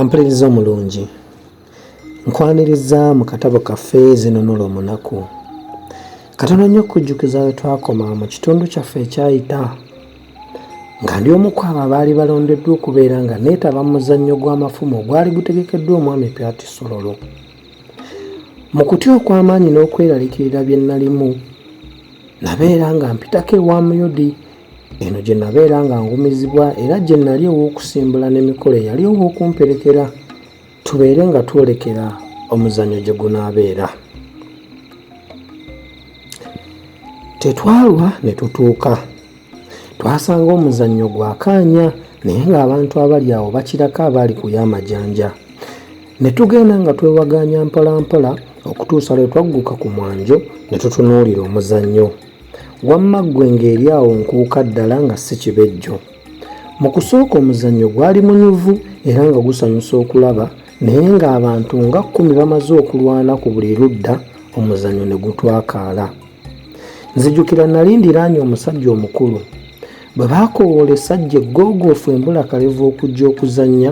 ampuliriza omulungi nkwaniriza mu katabo kaffe zinunula omunaku katono nnyo okujjukiza we twakoma mu kitundu kyaffe ekyayita nga ndi omu kwabo abaali balondeddwa okubeera nga neetaba mu muzannyo gw'amafumu ogwali gutegekeddwa omwami pyati sololo Mu kutya okw'amaanyi n'okweralikirira bye nnalimu, nabeera nga mpitako ewa Muyodi. Eno gye nabeera nga ngumizibwa era gye nali ow'okusimbula n'emikolo eyali ow'okumperekera tubeere nga twolekera omuzannyo gye gunaabeera. Tetwalwa ne tutuuka. twasanga omuzannyo gwakaanya naye ng'abantu abali awo bakirako abaali ku y'amajanja ne tugenda nga twewagaanya mpolampola okutuusa lwe twagguka ku mwanjo ne tutunuulira omuzannyo wamma ggwe ng'eri awo nkuuka ddala nga si kibejjo mu kusooka omuzannyo gwali munyuvu era nga gusanyusa okulaba naye ng'abantu nga kkumi bamaze okulwana ku buli ludda omuzannyo ne gutwakaala nzijukira nali ndiraanye omusajja omukulu bwe baakowoola esajja eggogoofu embula kalevu okujja okuzannya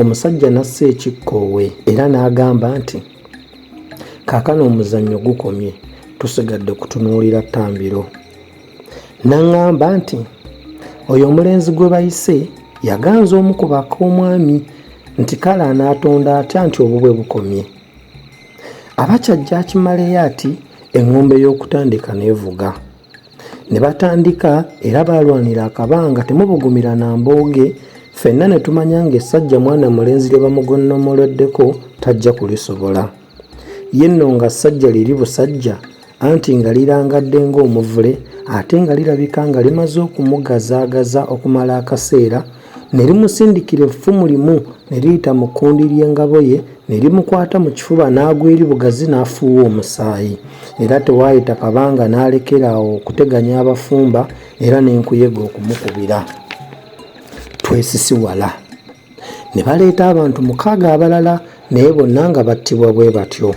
omusajja n'assa ekikkoowe era n'agamba nti kaakano omuzannyo gukomye tusigadde kutunuulira ttambiro n'aŋŋamba nti oyo omulenzi gwe bayise yaganza omu ku baka omwami nti kale anaatonda atya nti obubwe bukomye abakyajja akimaleyo ati eŋŋombe y'okutandika n'evuga ne batandika era baalwanira akabanga temubugumira na mbooge ffenna ne tumanya ng'essajja mwana mulenzi lye bamugonnomoleddeko tajja kulisobola ye nno nga ssajja liri busajja anti nga lirangadde ng'omuvule ate nga lirabika nga limaze okumugazaagaza okumala akaseera ne limusindikira effumu limu ne liyita mu kkundi ly'engabo ye ne limukwata mu kifuba n'agwa eri bugazi n'afuuwa omusaayi era tewaayita kabanga n'alekera awo okuteganya abafumba era n'enkuyega okumukubira twesisiwala ne baleeta abantu mukaaga abalala naye bonna nga battibwa bwe batyo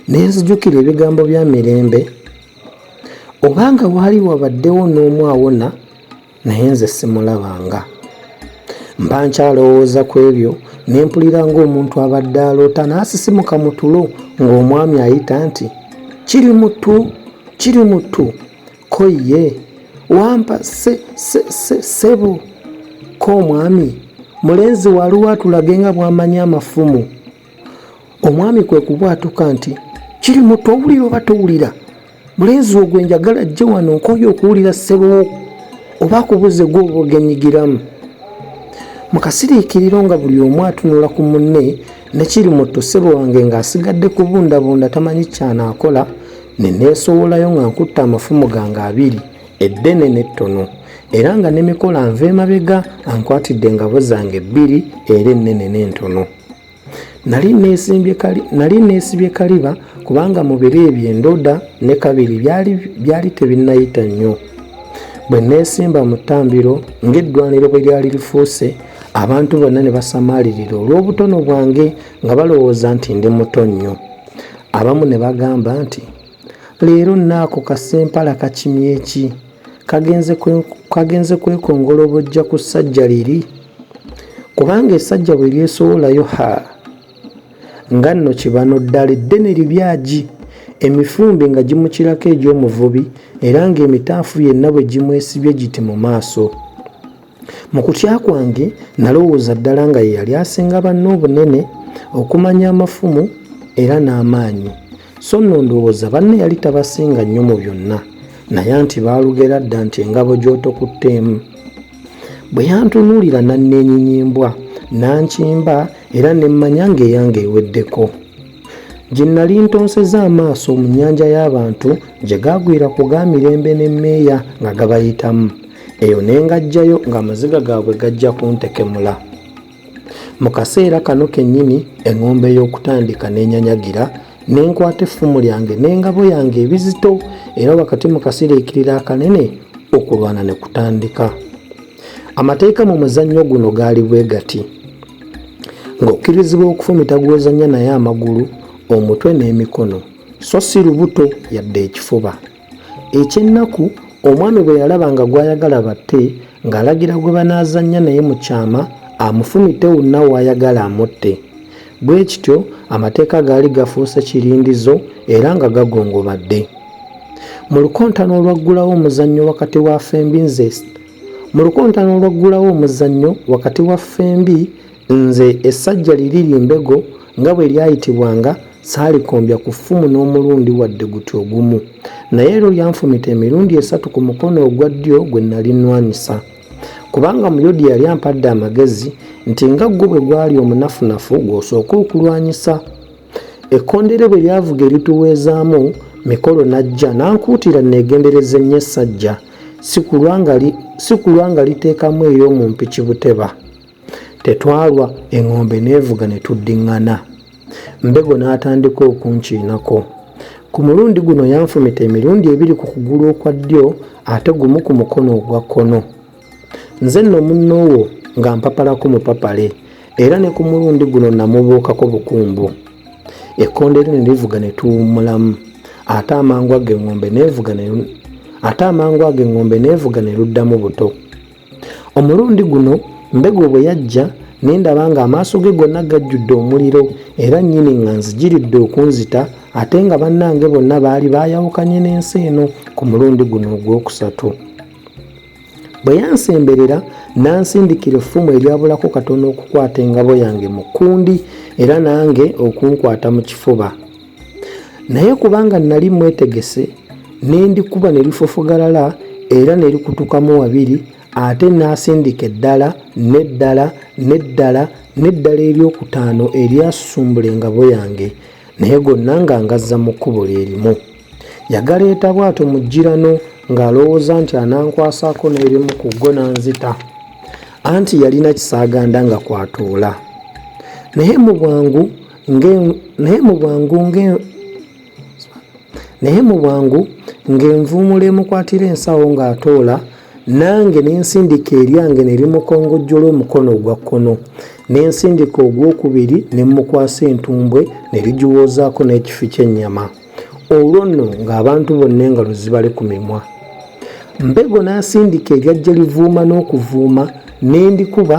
ne nzijukira ebigambo bya mirembe obanga waali wabaddewo n'omu awona naye nze simulabanga mba nkyalowooza ku ebyo ne mpulira ng'omuntu abadde aloota n'asisimuka mu tulo ng'omwami ayita nti kiri mutu kiri mutu ko ye wampa se, se, se, sebo ko omwami mulenzi waliwo atulage nga bwamanya amafumu omwami kwe kubwatuka nti kiri mutu owulira oba towulira mulenzi ogwe njagala jje wano nkoye okuwulira sebowo oba akubuze gwoba ogenyigiramu mukasiriikiriro nga buli omu atunula ku munne ne kiri muto ssebo wange ng'asigadde kubundabunda tamanyi kyanaakola ne neesowolayo nga nkutte amafumu gange abiri eddene n'ettono era nga ne mikola nva emabega ankwatidde engabo zange bbiri era ennene n'entono nali neesibye kaliba kubanga mu biro ebyo endoda ne kabiri byali tebinnayita nnyo bwe neesimba mu ttambiro ng'eddwaniro bwe lyali lifuuse abantu bonna ne basamaalirira olw'obutono bwange nga balowooza nti ndi muto nnyo abamu ne bagamba nti leero naako kasempala kakimye ki kagenze kwekongola obujja ku ssajja liri kubanga esajja bwe lyesowolayo ha nga nno kibano ddala eddene libyagi emifumbi nga gimukirako egy'omuvubi era ng'emitaafu yenna bwe gimwesibye giti mu maaso Mu kutya kwange nalowooza ddala nga ye yali asinga banne obunene, okumanya amafumu era n'amaanyi. So nno ndowooza banne yali tabasinga nnyo mu byonna, naye anti baalugera dda nti engabo gy'otokutte emu. Bwe yantunuulira n'anneenyinyimbwa, n'ankimba era ne mmanya ng'eyange eweddeko. gye nnali ntonseza amaaso mu nnyanja y'abantu gye gaagwira ku ga mirembe n'emmeeya nga gabayitamu eyo ne ngajjayo ng'amaziga gaabwe gajja kuntekemula mu kaseera kano kennyini eŋŋombe y'okutandika n'enyanyagira ne nkwata effumu lyange n'engabo yange ebizito era wakati mu kasiriikirira akanene okulwana ne kutandika Amateeka mu muzannyo guno gaali bwe gati ng'okkirizibwa okufumita gw'ozannya naye amagulu omutwe n'emikono so si lubuto yadde ekifuba ekyennaku omwami bwe yalaba nga gw'ayagala batte ng'alagira gwe banaazannya naye mu kyama amufumite wonna w'ayagala amutte Bwe kityo, Amateeka gaali gafuuse kirindizo era nga gagongobadde. Mu lukontana olwaggulawo omuzannyo wakati wa ffembi nze mu lukontana olwaggulawo omuzannyo wakati wa ffembi nze essajja liri limbego nga bwe lyayitibwanga saalikombya ku ffumu n'omulundi wadde guti ogumu naye ero lyanfumita emirundi esatu ku mukono ogwa ddyo gwe nali nnwanyisa kubanga muyodi yali ampadde amagezi nti nga ggwo bwe gwali omunafunafu gw'osooka okulwanyisa ekkondeere bwe lyavuga erituweezaamu mikolo n'ajja n'ankuutira neegendereza ennyo essajja si kulwa nga liteekamu ey'omu mpiki buteba Tetwalwa, eŋŋombe n'evuga ne tuddiŋŋana. Mbego n'atandika okunkiinako. Ku mulundi guno yanfumita emirundi ebiri ku kugulu okwa ddyo ate gumu ku mukono ogwa kkono. Nze nno munno wo nga mpapalako mupapale era ne ku mulundi guno namubuukako bukumbu. Ekkondeere ne livuga ne tuwummulamu ate amangu ago eŋŋombe n'evuga ne luddamu buto. omulundi guno mbego bwe yajja ne ndaba ng'amaaso ge gonna gajjudde omuliro era nnyini nga nzigiridde okunzita ate nga bannange bonna baali baayawukanye n'ensi eno ku mulundi guno ogwokusatu bwe yansemberera n'ansindikira effumu eryabulako katono okukwata engabo yange mu kkundi era nange okunkwata mu kifuba naye kubanga nali mwetegese nendikuba nelifofogalala era nelikutukamu wabiri ate nasindika eddala neddala neddala neddala eryokutaano eryasusumbula engabo yange naye gonna nga ngazza mu kkubo lyerimu yagaleeta bwato mu jirano ng'alowooza nti anankwasako n'erimu ku go nanzita anti yalina kisaaganda nga kwatuula naye mu bwangu naye mubwangu naye mubwangu ng'envuumulo emukwatira ensawo ng'atoola nange nensindika eryange nerimukongojjola omukono ogwa kkono nensindika ogwokubiri nemukwasa entumbwe nerigiwoozaako n'ekifi ky'ennyama olwo nno ng'abantu bonna engalo zibale ku mimwa mbego n'asindika eryajja livuuma n'okuvuuma nendikuba